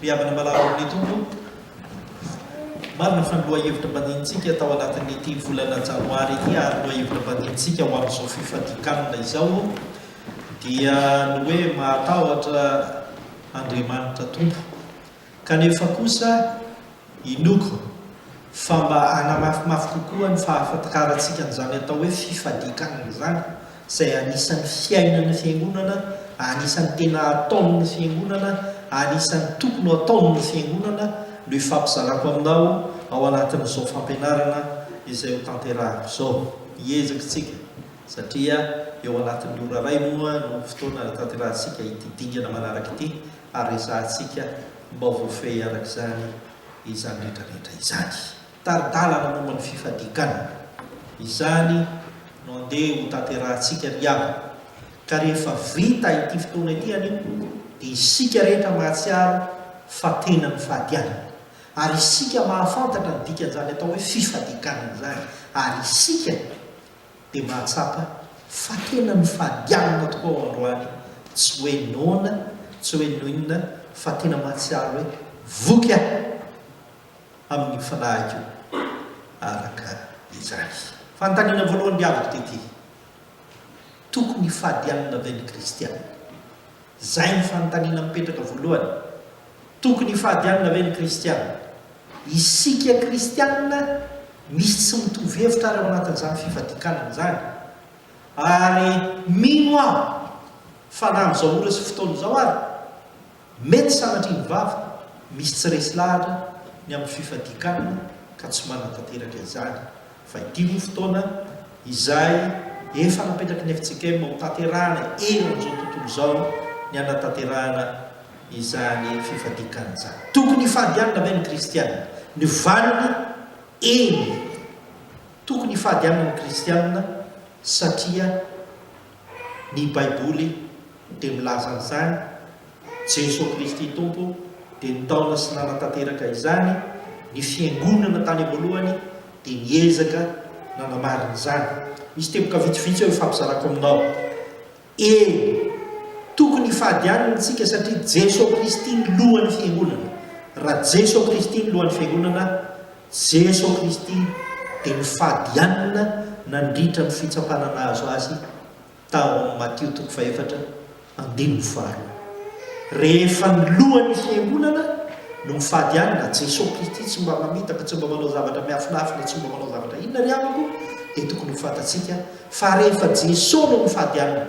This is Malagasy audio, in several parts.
Ry havana malala amin'ny Tompo, marina fa ny lohahevitra baninintsika tao anatin'ity volana Janoary ity ary ny lohahevitra baninintsika ho amin'izao fifadian-kanina izao dia ny hoe mahatahotra Andriamanitra Tompo. Kanefa kosa, Inoako fa mba hanamafimafy kokoa ny fahafatikarantsika an'izany atao hoe fifadian-kanina izany, izay anisan'ny fiainan'ny Fiangonana, anisan'ny tena ataon'ny Fiangonana, anisan'ny tokony ho ataon'ny Fiangonana, no ifampizarako aminao ao anatin'izao fampianarana izay hotanterahako izao. Hiezaka isika, satria eo anatin'ny ora iray moa no fotoana ahatanterahantsika ity dingana manaraka ity, ary resahantsika mba voafehy araka izany izany rehetrarehetra izany. Tari-dalana momba ny fifadiganana, izany no andeha hotanterahantsika ry havana, ka rehefa vita ity fotoana ity anio dia isika rehetra mahatsiaro fa tena mifady alina, ary isika mahafantatra ny dikan'izany atao hoe fifadiganana izany, ary isika dia mahatsapa fa tena mifady alina tokoa aho androany, tsy hoe noana, tsy hoe noinona fa tena mahatsiaro hoe voky aho amin'io fanahiko io araka izany. Fanontaniana voalohany diaviko dia ity, Tokony hifady alina ve ny kristiana? Izay no fanontaniana mipetraka voalohany. Tokony hifadianina ve ny kristiana? Isika kristiana misy tsy mitovy hevitra ary ao anatin'izany fifadikanana izany. Ary mino aho fa na amin'izao ora sy fotoana izao ary, mety sanatria ny vava misy tsy resy lahatra ny amin'ny fifadikanana ka tsy manantanteraka izany. fa ity moa fotoana izay efa napetraky ny FJKM ho tanterahana eo amin'izao tontolo izao ny hanatanterahana izany fifadian-kanina izany. Tokony hifady alina ve ny kristiana? Ny valiny, eny, tokony hifady alina ny kristiana satria Ny Baiboly dia milaza an'izany, Jeso Kristy Tompo dia nitaona sy nanatanteraka izany, ny Fiangonana tany am-boalohany dia niezaka nanamarina izany. Misy teboka vitsivitsy eo ifampizarako aminao. E. Tokony hifadianina isika satria Jeso Kristy ny Lohan'ny Fiangonana. Raha Jeso Kristy ny Lohan'ny Fiangonana, Jeso Kristy dia nifadianina nandritra ny fitsapana nahazo Azy tao amin'ny Matio toko fahefatra andininy faharoa. Rehefa ny lohan'ny fiangonana no mifadianina, Jeso Kristy tsy mba mamitaka, tsy mba manao zavatra miafinafina, tsy mba manao zavatra inona ry amiko, dia tokony ho fantatsika fa rehefa Jeso no mifadianina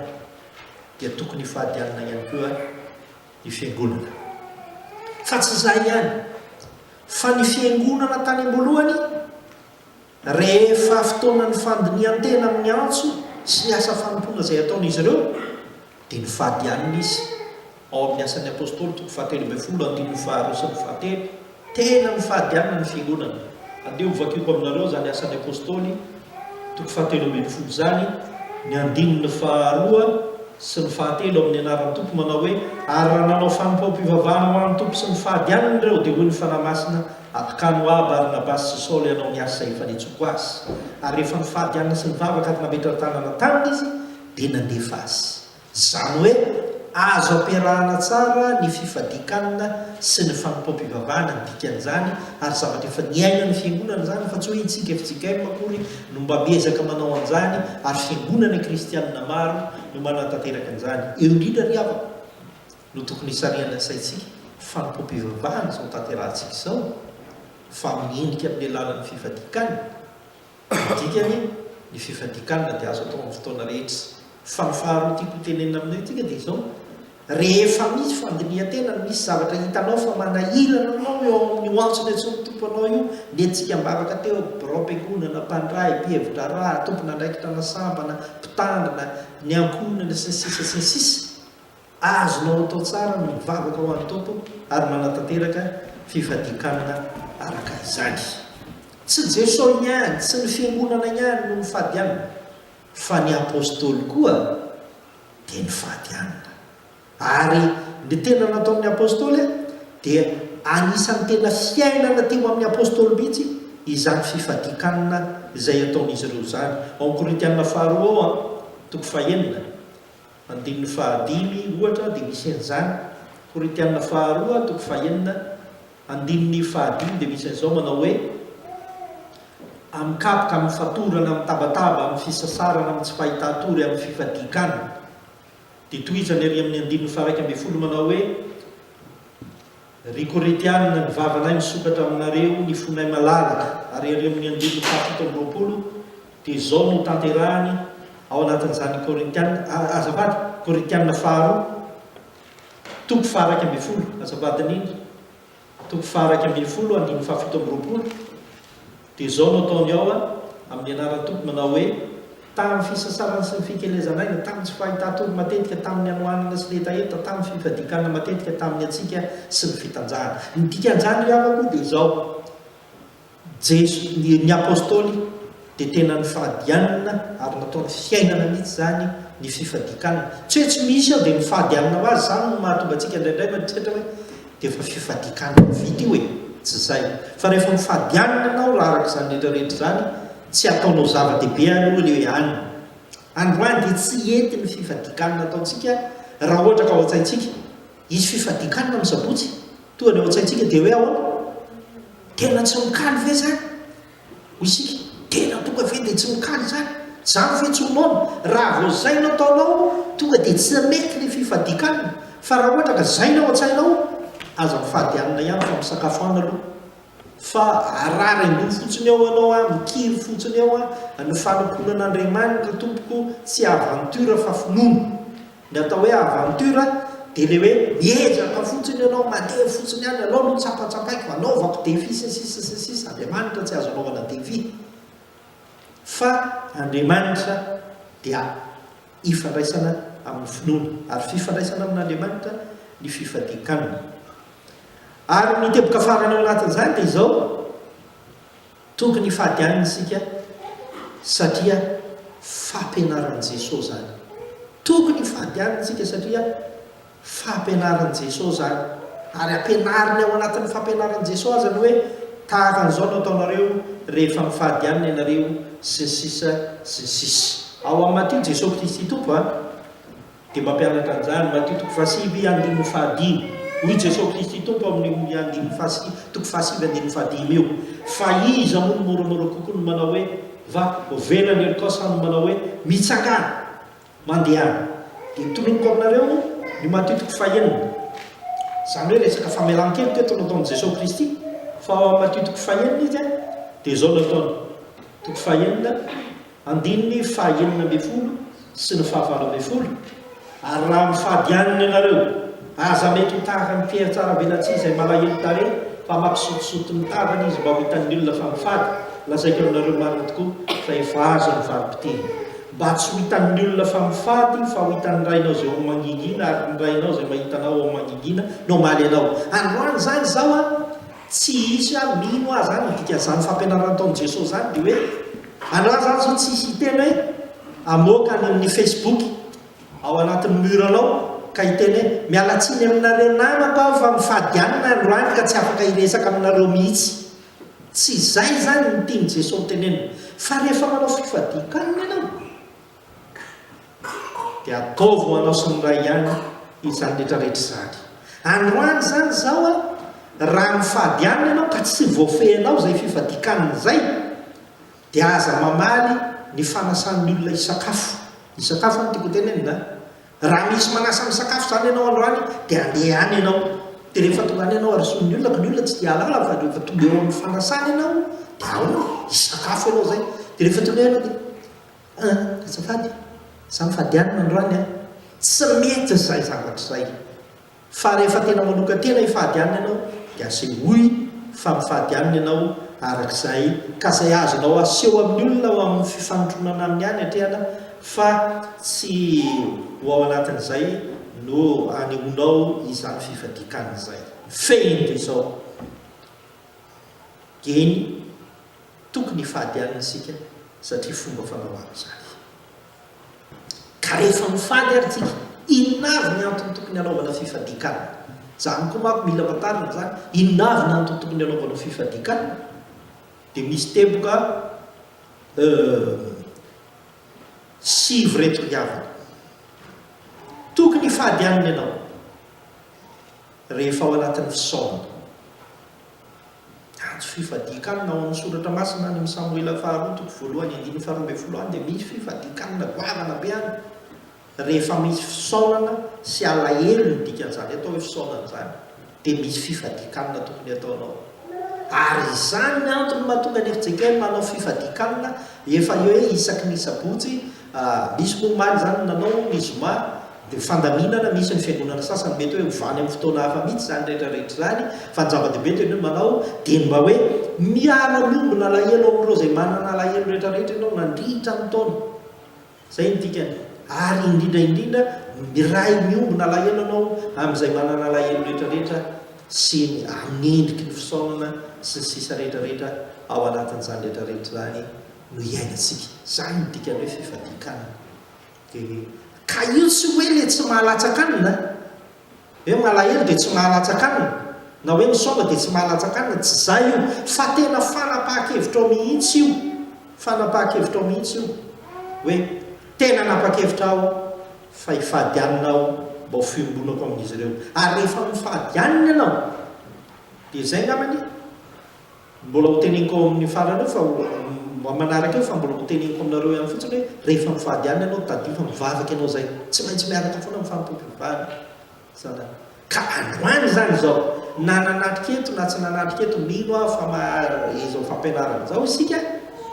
dia tokony hifadianina ihany koa ny fiangonana. Fa tsy izay ihany. Fa ny fiangonana tany am-boalohany, rehefa fotoanan'ny fandinihan-tena amin'ny antso sy ny asa fanompoana izay ataon'izy ireo, dia nifady alina izy. Ao amin'ny Asan'ny Apostoly, toko fahatelo ambin'ny folo, andininy faharoa sy ny fahatelo, tena nifady alina ny fiangonana. Andeha hovakiako aminareo izany Asan'ny Apostoly. toko fahatelo ambin'ny folo izany ny andininy faharoa sy ny fahatelo amin'ny anaran'ny Tompo manao hoe, Ary raha nanao fanompoam-pivavahana ho an'ny Tompo sy ny fahadianany ireo dia hoy ny Fanahy Masina, Atokano ho ahy Barnabasy sy Saoly hanao ny asa efa nentsoako azy. Ary rehefa nifady hanina sy nivavaka ary nametra ny tanana taminy izy dia nandefa azy. Izany hoe azo ampiarahana tsara ny fifadian-kanina sy ny fanompoam-pivavahana ny dikan'izany ary zavatra efa niainan'ny Fiangonana izany fa tsy hoe intsika fjkm akory no mba miezaka manao an'izany ary Fiangonana kristianina maro no manatanteraka an'izany. Eo indrindra ry havana no tokony hisarihana ny saintsika fanompoam-pivavahana izao tanterahantsika izao fa amin'ny endrika amin'ny alalan'ny fifadian-kanina. Ny dikany, ny fifadikanana dia azo atao amin'ny fotoana rehetra. Fa ny faharoa tiako hotenenina aminao ity dia izao, rehefa misy fandinihan-tena no misy zavatra hitanao fa manahirana anao eo amin'ny ho antson'ny antsoin'ny Tompo anao io, nentsika am-bavaka teo, biraom-piangonana, mpandrahy, mpihevi-draharaha, tompon'andraikitra na sambana, mpitandrina, ny ankohonana, sy ny sisa sy ny sisa. Azonao atao tsara ny mivavaka ho an'ny Tompo ary manatanteraka fifadian-kanina araka izany. Tsy Jesosy ihany, tsy ny Fiangonana ihany no mifady hanina, fa ny Apostoly koa dia nifady hanina. Ary ny tena nataon'ny Apostoly dia anisan'ny tena fiainana teo amin'ny Apostoly mihitsy izany fifadian-kanina izay ataon'izy ireo izany. Ao amin'ny Korintiana Faharoa ao, toko fahenina. Andininy fahadimy, ohatra, dia misy an'izany. Korintiana faharoa, toko fahenina, andininy fahadimy dia misy an'izao manao hoe, Amin'ny kapoka, amin'ny fatorana, amin'ny tabataba, amin'ny fisasarana, amin'ny tsy fahitàn-tory, amin'ny fifadian-kanina. Dia tohizany ery amin'ny andininy faharaika ambin'ny folo manao hoe, Ry Korintiana, ny vavanay misokatra aminareo, ny fonay malalaka, ary ery amin'ny andininy fahafito amby roapolo dia izao no tanterahiny ao anatin'izany Korintiana, a, azafady, Korintiana faharoa, toko faha-iraika ambin'ny folo, azafady, ny toko faha-iraika ambin'ny folo, andininy fahafito amby roapolo. Dia izao no ataony ao a, amin'ny anaran'ny Tompo, manao hoe, Tamin'ny fisasarana sy ny fikelezan'aina, tamin'ny tsy fahitàn-tory matetika, tamin'ny hanoanana sy ny hetaheta, tamin'ny fifadian-kanina matetika, tamin'ny hatsiaka sy ny fitanjahana. Ny dikan'izany ry havako dia izao, Jeso, ny, ny Apôstôly dia tena nifadianina ary nataony fiainana mihitsy izany ny fifadian-kanina. Tsy hoe tsy misy aho dia mifady hanina ho azy, izany no mahatonga antsika indraindray mieritreritra hoe, dia efa fifadikanana vita io e! Tsy izay? Fa rehefa mifady hanina ianao raha araka izany rehetra rehetra izany, tsy ataonao zava-dehibe aloha ilay hoe hanina. Androany dia tsy hety ny fifadikanana ataontsika raha ohatra ka ao an-tsaintsika, hisy fifadikanana ny sabotsy, toa ny ao an-tsaintsika dia hoe ahoana? Tena tsy mikaly ve izany? Isika tena tonga ve dia tsy mikaly izany? Zany ve tsy ho noana? Raha vao zay no ataonao tonga dia tsy mety ilay fifadikanana. Fa raha ohatra ka zay no ao an-tsainao, aza mifady hanina ihany fa misakafo hanina aloha. Fa ararain-doha fotsiny eo ianao an, mikiry fotsiny eo an, ny fanompoana an'Andriamanitra tompoko tsy aventure fa finoana. Ny atao hoe aventure dia ilay hoe miezaka fotsiny ianao, mandeha fotsiny any, anao no tsapatsapaiky, anaovako défi sy ny sisa sy ny sisa, Andriamanitra tsy azo anaovana défi fa Andriamanitra dia ifandraisana amin'ny finoana ary fifandraisana amin'Andriamanitra ny fifadian-kanina. Ary ny teboka farany ao anatin'izany dia izao, Tokony hifady anina isika satria fampianaran'i Jesoa izany. Tokony hifady anina isika satria fampianaran'i Jesoa izany. Ary ampianariny ao anatin'ny fampianaran'i Jesoa aza ny hoe tahaka an'izao no ataonareo rehefa mifady anina ianareo sy ny sisa sy ny sisa. Ao amin'i Matio Jesoa Kristy Tompo a. Dia mampianatra an'izany, Matio toko fahasivy andininy fahadimy, Hoy Jesoa Kristy Tompo amin'io andininy fahasivy toko fahasivy andininy fahadimy io, Fa iza moa no moramora kokoa no manao hoe, Va, ovela ny helokao sa no manao hoe, Mitsangàna! Mandehana! Dia tononiko aminareo ny Matio toko fahenina, izany hoe resaka famelan-keloka eto no ataon'i Jesoa Kristy, fa ao amin'ny Matio toko fahenina izy dia izao no ataony, toko fahenina, Andininy faha enina ambin'ny folo sy ny faha valo ambin'ny folo Ary raha mifady hanina ianareo, aza mety ho tahaka ny mpihatsara-velatsihy izay malahelo tarehy, fa mampisotisoty ny tavany izy mba ho hitan'ny olona fa mifady, lazaiko aminareo marina tokoa, fa efa azo ny valin-piteny. Mba tsy ho hitan'ny olona fa mifady, fa ho hitan'ny Rainao izay ao amin'ny mangingina, ary ny Rainao izay mahita anao ao amin'ny mangingina no hamaly anao. Androany izany izao an, tsy hisy ary mino aza an, ny dikan'izany fampianarana nataon'i Jesoa izany dia hoe, Angaha za zao tsy hiteny hoe amoaka any amin'ny facebook ao anatin'ny mur anao ka hiteny hoe mialatsiny aminareo namako aho fa mifady ihany ny androany ka tsy afaka hiresaka aminareo mihitsy. Tsy izay izany no tian'i Jesoa hotenenina fa rehefa manao fifadian-kanina ianao, Dia ataovy ho anao sy ny Ray ihany izany rehetrarehetra izany. Androany izany izao a, raha mifady hanina ianao ka tsy voafehinao izay fifadian-kanina izay, dia aza mamaly ny fanasan'ny olona hisakafo. Hisakafo no tiako hotenenina a. Raha misy manasa misakafo izany ianao androany, dia andeha any ianao. Dia rehefa tonga any ianao, arosoy ny olona, ka ny olona tsy dia hahalala fa rehefa tonga eo amin'ny fanasana ianao, dia ao, hisakafo ianao izay. Dia rehefa tonga eo ianao dia. Ah, azafady, za mifady alina androany an! Tsy mety izay zavatra izay! Fa rehefa tena manokan-tena hifady alina ianao dia asehoy fa mifady alina ianao araka izay, ka izay azonao aseho amin'ny olona ao amin'ny fifanotronana aminy ihany atrehana fa tsy ho ao anatin'izay no anehoanao izany fifadian-kanina izay. Mifehy indray izao, Geny. Tokony hifady alina isika satria fomba fanao avy izany. Ka rehefa mifady ary tsika, inona avy ny antony tokony hanaovana fifadian-kanina? Izany koa manko mila fantarina izany, inona avy ny antony tokony hanaovanao fifadian-kanina? Dia misy teboka sivy ireto ry havana. Tokony hifady alina ianao rehefa ao anatin'ny fisaonana. Antso fifadian-kanina ao amin'ny Soratra Masina any amin'ny Samoela Faharoa toko voalohany andininy faharoa ambin'ny folo any dia misy fifadian-kanina goavana be any rehefa misy fisaonana sy alahelo ny dikan'izany atao hoe fisaonana izany dia misy fifadian-kanina tokony ataonao ary izany ny antony mahatonga an'i Ezekiela nanao fifadian-kanina efa hoe isaky ny sabotsy Nisy moa omaly izany no nanao ny zoma dia fandaminana misy ny fiangonana sasany mety hoe ho vany amin'ny fotoana hafa mihitsy izany rehetra rehetra izany fa ny zava-dehibe dia ny hoe manao dieny mba hoe miala miombona alahelo amin'ireo izay manana alahelo rehetra rehetra ianao nandritra ny taona izay ny dikany ary indrindra indrindra miray miombona alahelo ianao amin'izay manana alahelo rehetra rehetra sy ny amin'ny endriky ny fisaonana sy ny sisa rehetra rehetra ao anatin'izany rehetra rehetra izany no iainantsika. Izany no dikan'ny hoe fifadian-kanina. Dia hoe, ka io tsy hoe ilay tsy mahalatsa-kanina an! Hoe malahelo dia tsy mahalatsa-kanina, na hoe misaoba dia tsy mahalatsa-kanina, tsy izay io, fa tena fanapahan-kevitrao mihitsy io, fanapahan-kevitrao mihitsy io, hoe tena nanapa-kevitra aho fa hifady hanina aho mba ho fiombonako amin'izy ireo. Ary rehefa mifady hanina ianao, dia izay angambany e! Mbola ho teneniko ao amin'ny farany eo fa ho manaraka eo fa mbola ho teneniko aminareo ihany fotsiny hoe rehefa mivady alina ianao tadidio fa mivavaka ianao izay tsy maintsy miaraka foana amin'ny fanompoam-pivavahana izany ka androany izany izao na nanatrika eto na tsy nanatrika eto mino aho fa maha izao fampianarana izao isika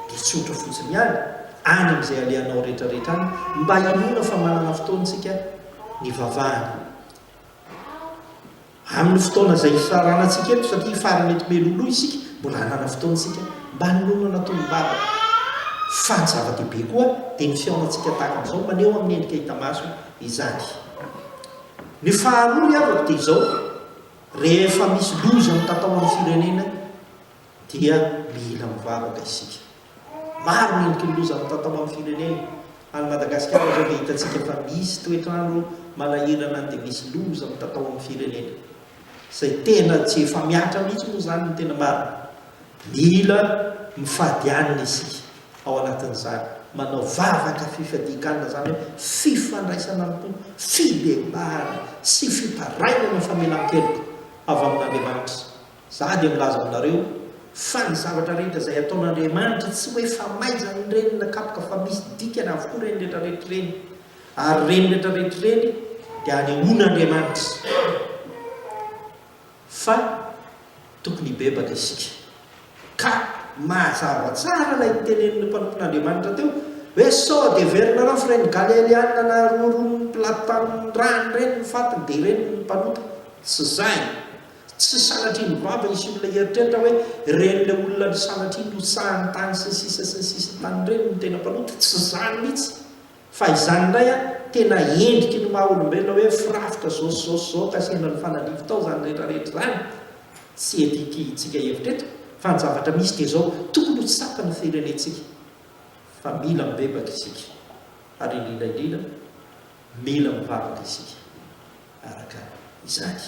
dia tsotra fotsiny ihany any amin'izay alehanao rehetrarehetra any mba hinoana fa manana fotoana isika nivavahana Amin'ny fotoana izay ifirarana antsika eto satria fary mety meloloha isika mbola hanana fotoana isika mba hanonona tolom-bavaka. Fa ny zava-dehibe koa dia ny fihaonantsika tahaka an'izao maneho amin'ny endrika hita maso izany. Ny faharoa ry havako dia izao, rehefa misy loza mitatao amin'ny firenena, dia mila mivavaka isika. Maro ny olo-tolo loza mitatao amin'ny firenena. Any Madagasikara izao dia hitantsika fa misy toetr'andro manahirana dia misy loza mitatao amin'ny firenena. Izay tena tsy efa mihatra mihitsy moa izany no tena marina. Mila mifady anina isika ao anatin'izany. Manao vavaka fifadian-kanina izany hoe fifandraisana amin'ny Tompo, fibebahana sy fitarainana famelan-keloka avy amin'Andriamanitra. Izaho dia milaza aminareo fa ny zavatra rehetra izay ataon'Andriamanitra, tsy ho efa maizany ireny na kapoka fa misy dikany avokoa ireny rehetra rehetra ireny. Ary ireny rehetra rehetra ireny dia anehoan'Andriamanitra fa tokony hibebaka isika. Ka mazava tsara ilay tenenin'ny mpanompon'Andriamanitra teo hoe sao dia heverinareo fa ireny Galealianina naharoaroan'i Pilato tamin'ny ràny ireny ny fatiny dia ireny no mpanota. Tsy izay. Tsy sanatria nivava izy sy olona hieritreritra hoe ren'ilay olona ry sanatria notsahany tany sy ny sisa sy ny sisa tany ireny no tena mpanota, tsy izany mihitsy fa izany indray an tena endriky ny maha olombelona hoe firafitra izao sy izao sy izao kasihana ny fanalivo tao izany rehetra rehetra izany tsy edity tsika hevitra eto fa ny zavatra misy dia izao tokony ho tsapa ny firenentsika fa mila mibebaka isika ary indrindra indrindra mila mivavaka isika. Araka izany,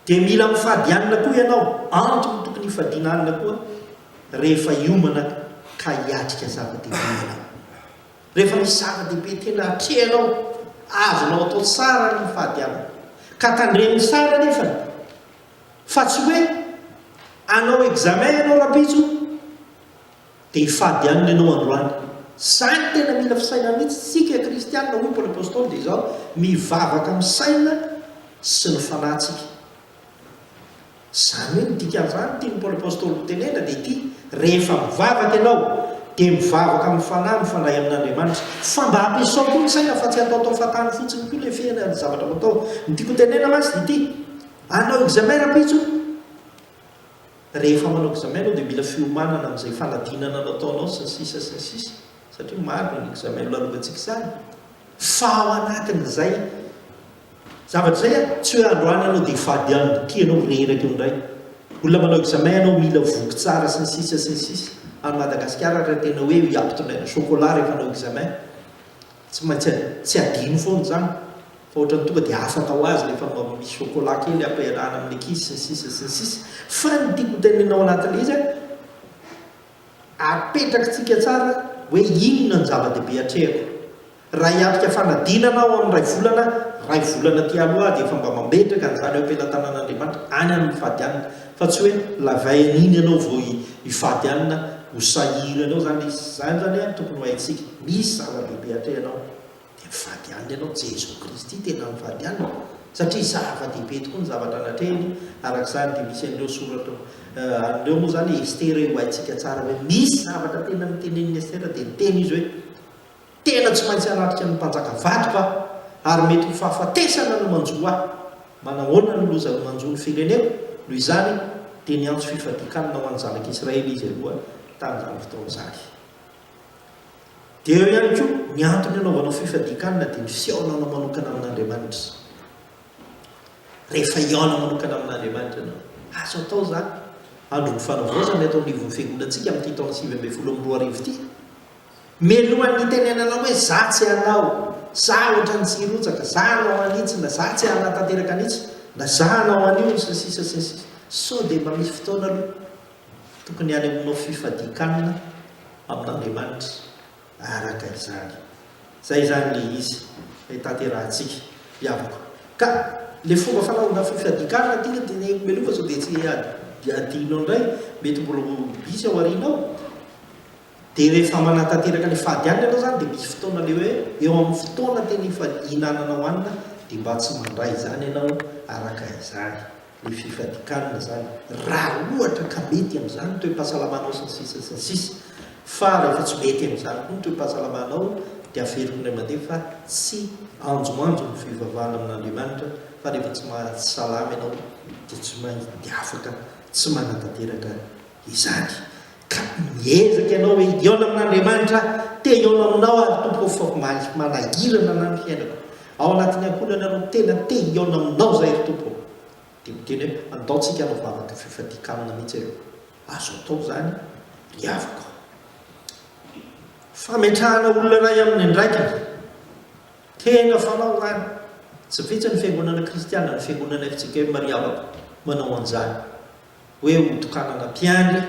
dia mila mifady alina koa ianao. Antony tokony hifadiana alina koa rehefa hiomana ka hiatrika zava-dehibe ianao. Rehefa misy zava-dehibe tena atrehanao, azonao atao tsara ny mifady alina. Ka tandremo tsara anefa fa tsy hoe hanao examen ianao rahampitso, Te hifady aminy ianao androany. Zany tena mila fisainana mihitsy tsika kristianina hoy Paoly Apostoly dia izao mivavaka amin'ny saina sy ny fanahy tsika. Zany hoe ny dikan'izany tian'i Paoly Apostoly hotenena dia ity, rehefa mivavaka ianao dia mivavaka amin'ny fanahy mifandray amin'Andriamanitra fa mba ampiasao koa ny saina fa tsy ataotao fahatany fotsiny koa ilay fihena ny zavatra natao. Ny tiako hotenena mantsy dia ity, hanao examen rahampitso. rehefa manao examen ianao dia mila fiomanana amin'izay fanadinana nataonao sy ny sisa sy ny sisa satria maro ny examen nolalovantsika izany fa ao anatin'izay zavatra izay a tsy hoe androany ianao dia fady any boky ianao mirehiraka eo indray olona manao examen ianao mila voky tsara sy ny sisa sy ny sisa any Madagasikara raha tena hoe hiampitondray ny chocolat rehefa hanao examen Tsy maintsy tsy adino foana izany fa ohatran'ny tonga dia afaka ho azy rehefa mba misy chocolat kely ampiarahana amin'ny ankizy sy ny sisa sy ny sisa. Fa ny tiako hotenenina ao anatin'ilay izy an, apetrakitsika tsara hoe inona no zava-dehibe hatrehako. Raha hiatrika fanadinana aho amin'ny iray volana, iray volana aty aloha aho dia efa mba mametraka an'izany eo am-pelatanan'Andriamanitra any amin'ny fady any. Fa tsy hoe lavainy iny ianao vao hifady alina ho sahirana eo izany izy. Izany izany an tokony ho haintsika. Misy zava-dehibe atrehanao dia mifady alina ianao. Jesoa Kristy tena mifady alina satria zava-dehibe tokoa ny zavatra natrehiny. Araka izany dia misy an'ireo soratra an'ireo moa izany Estera io haintsika tsara hoe misy zavatra tena notenenin'i Estera dia niteny izy hoe. Tena tsy maintsy hanatrika ny mpanjaka vadiko aho ary mety ho fahafatesana no manjo ahy. Manahoana ny loza no manjo ny fireneko? Noho izany dia niantso fifadian-kanina ho an'ny zanak'i Israely izy aloha tamin'izany fotoana izany. Dia eo ihany koa, ny antony anaovanao fifadian-kanina dia ny fihaonanao manokana amin'Andriamanitra. Rehefa hihaona manokana amin'Andriamanitra ianao, azo atao izany. Andron'ny Fanavaozana eto anivon'ny Fiangonantsika amin'ity taona sivy ambin'ny folo amby roa arivo ity. Mialohan'ny hitenenanao hoe za tsy hanao, za ohatran'ny tsy hirotsaka, za hanao an'itsy na za tsy hanatanteraka an'itsy na za hanao an'io sy ny sisa sy ny sisa. Sao dia mba misy fotoana aloha tokony hanehoanao fifadian-kanina amin'Andriamanitra araka izany. Izay izany ilay izy ilay tanterahantsika hiavaka. Ka ilay fomba fanaovana fifadian-kanina tika dia ny mialoha sao dia tsy adinao indray, mety mbola ho hisy aoriana ao. Dia rehefa manatanteraka ilay fahadianana ianao izany dia misy fotoana ilay hoe eo amin'ny fotoana tena hihinananao hanina dia mba tsy mandray izany ianao araka izany ilay fifadian-kanina izany raha ohatra ka mety amin'izany ny toe-pahasalamanao sy ny sisa sy ny sisa fa rehefa tsy mety amin'izany koa ny toe-pahasalamanao dia averiko indray mandeha fa tsy anjoanjo ny fivavahana amin'Andriamanitra fa rehefa tsy mahatsy salama ianao dia tsy maintsy dia afaka tsy manatanteraka izany Ka miezaka ianao hoe hihaona amin'Andriamanitra aho, te hihaona aminao aho ry Tompo ô, fa omaly manahirana anah ny fiainako, ao anatin'ny ankohonana no tena te hihaona aminao izahay ry Tompo ô. Dia miteny hoe andao tsika hanao vavaka fifadian-kanina mihitsy ireo. Azo atao izany ry havako ô. Fametrahana olona iray amin'ny andraikiny. Tena fanao izany. Tsy vitsy ny fiangonana kristiana, ny fiangonana FJKM ry havako, manao an'izany. hoe hotokanana mpiandry,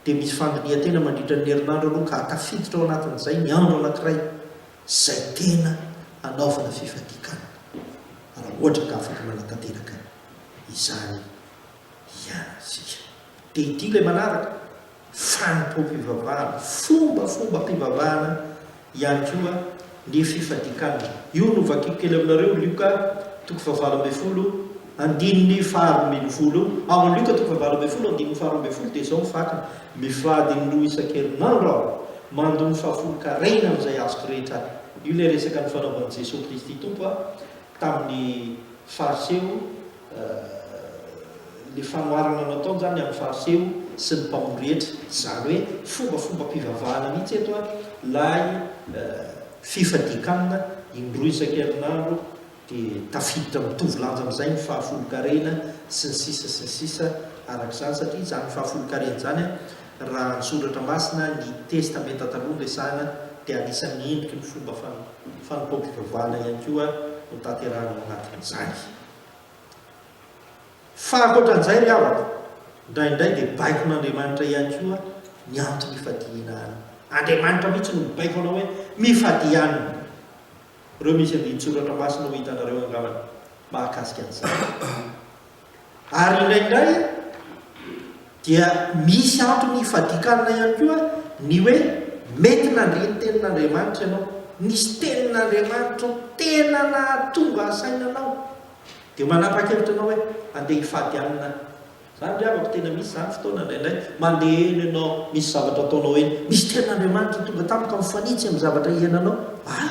dia misy fandinihan-tena mandritra ny herinandro aloha ka tafiditra ao anatin'izay ny andro anankiray izay tena hanaovana fifadian-kanina, raha ohatra ka afaka manatanteraka izany ihany isika. Dia ity ilay manaraka. fanompoam-pivavahana, fombafombam-pivavahana ihany koa ny fifadikanana. Io no vakiko kely aminareo, Lioka toko fahavalo ambin'ny folo, andininy faharoa ambin'ny folo. Ao amin'ny Lioka toko fahavalo ambin'ny folo, andininy faharoa ambin'ny folo dia izao ny fakiny, Mifady indroa isan-kerinandro aho, mandoa ny fahafolon-karena amin'izay azoko rehetra. Io ilay resaka ny fanaovan'i Jesoa Kristy Tompo tamin'ny Fariseo. Ilay fanoharana nataony izany amin'ny Fariseo sy ny mpamory rehetra, izany hoe fombafombam-pivavahana mihitsy eto an, ilay fifadian-kanina indroa isan-kerinandro dia tafiditra mitovy lanja amin'izay ny fahafolonkarena sy ny sisa sy ny sisa araka izany, satria izany fahafolonkarena izany an, raha ny soratra masina, ny Testamenta Taloha no resahana dia anisan'ny endriky ny fomba fanompoam-pivavahana ihany koa notanterahina ao anatin'izany. Fa ankoatran'izay ry havako, indraindray dia baikon'Andriamanitra ihany koa ny antom-pifadiana any. Andriamanitra mihitsy no mibaiko anao hoe mifadia aminy. Ireo misy andinin-tsoratra masina ho hitanareo angambany mahakasika an'izany. Ary indraindray, Dia misy antony ifadikanana ihany koa ny hoe mety nandre ny tenin'Andriamanitra ianao. Nisy tenin'Andriamanitra tena nahatonga asaina anao. Dia manapa-kevitra ianao hoe handeha hifady Aminy. Izany ry havako, tena misy izany fotoana indraindray mandeha eny ianao, misy zavatra ataonao eny, misy tenin'Andriamanitra tonga tampoka mifanitsy amin'ny zavatra iainanao. Ah!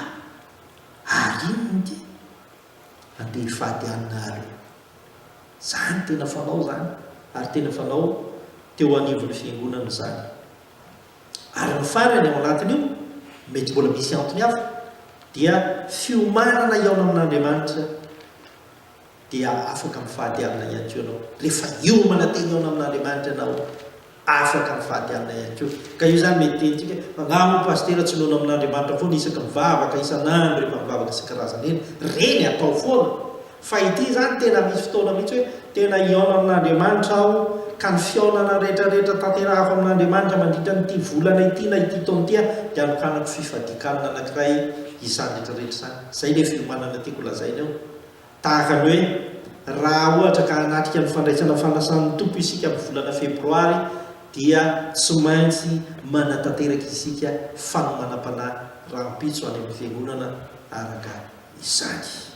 Ary inona ity? Andeha hifady alina ary. Zany tena fanao zany ary tena fanao teo anivon'ny fiangonana zany. Ary ny farany ao anatin'io, mety mbola misy antony hafa, dia fiomanana hihaona amin'Andriamanitra dia afaka mifady alina ihany koa ianao. Rehefa hiomana te hihaona amin'Andriamanitra ianao, afaka mivady amina ihany koa. Ka io izany mety henontsika hoe, fa nga moa Pasitera tsy noana amin'Andriamanitra foana isaky mivavaka isan'andro rehefa mivavaka isan-karazany eny? Reny atao foana. Fa ity izany tena misy fotoana mihitsy hoe, tena hihaona amin'Andriamanitra aho ka ny fihaonana rehetrarehetra tanterahako amin'Andriamanitra mandritra an'ity volana ity na ity taona ity aho dia anokanako fifadian-kanina anankiray izany rehetrarehetra izany. Izay ilay fiomanana tiako lazaina eo. Tahaka ny hoe, raha ohatra ka hanatrika ny fandraisana fanasan'ny Tompo isika amin'ny volana Febroary, dia tsy maintsy manatanteraka isika fanomanam-panahy rahampitso any amin'ny fiangonana araka izany.